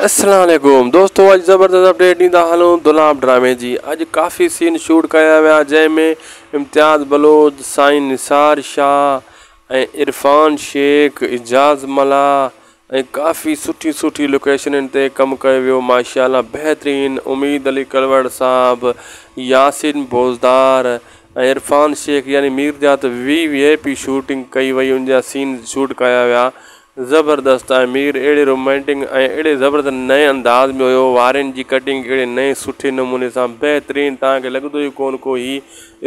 السلام عليڪم دوستو اڄ زبردست اپڊيٽ ڏيندا هلون دولاب ڊرامي جي اڄ ڪافي سين شوٽ ڪيا ويا جنهن ۾ امتياز بلوچ سائين نثار شاهه ۽ عرفان شيخ اعجاز ملاح ۽ ڪافي سٺي سٺي لوڪيشنن تي ڪم ڪيو ويو ماشاءالله بهترين اميد علي ڪلوڙ صاحب ياسين بوزدار ۽ عرفان شيخ يعني ميرجات وي وي پي شوٽنگ ڪئي وئي ان جا سين شوٽ ڪيا ويا زبردست ۽ مير اهڙي رومانٽنگ ۽ اهڙي زبردست نئين انداز ۾ هيو وارين جي ڪٽنگ اهڙي نئين سٺي نموني سان بهترين توهان کي لڳندو ئي ڪون ڪو هي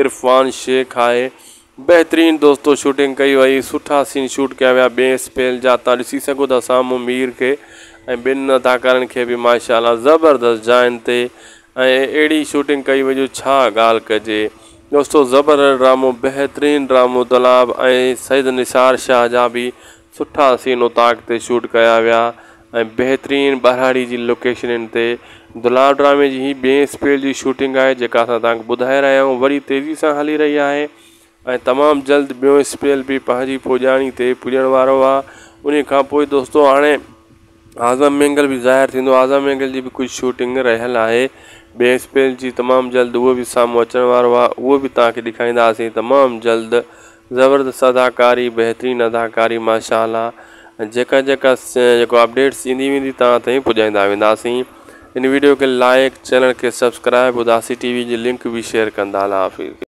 عرفان شيخ آهي بهترين دوستو شوٽنگ ڪئي وئي سٺا سين شوٽ ڪيا ويا ٻئي اسپيل جا تان ڏسي سگهو ٿا سامهون مير کي ۽ ٻين اداڪارن کي به ماشاء الله زبردست جاين تي ۽ اهڙي شوٽنگ ڪئي وئي جو ڇا ڳالهه ڪجي دوستو زبردست ڊرامو بهترين ڊرامو دلاب ۽ سيد نثار شاهه جا به سٺا سين اوطاق تي شوٽ ڪيا ويا ۽ بهترين ٻهراڙي جي لوڪيشنن تي دلال ڊرامي جي هي ٻئين اسپيل جي شوٽنگ آهي جيڪا اسان توهان کي ٻڌائي رهيا آهيون وڏي تيزي سان هلي رهي آهي ۽ تمام جلد ٻيون اسپيل به پنهنجي پڄاڻي تي پڄڻ وارو آهي انهي کانپوء دوستو هاڻي اعظم مينگل به ظاهر ٿيندو، اعظم مينگل جي به ڪجهه شوٽنگ رهيل آهي، ٻئي اسپيل جي تمام جلد اهو به سامهون اچڻ وارو آهي اهو به توهان کي ڏيکارينداسين تمام جلد، زبردست اداڪاري بهترين اداڪاري ماشاء الله جيڪا جيڪا جيڪو اپڊيٽس ايندي ويندي توهان تائين پڄائيندا وينداسين ان ويڊيو کي لائيڪ چينل کي سبسڪرائيب اداسي ٽي وي جي لنڪ به شيئر ڪندا الله حافظ.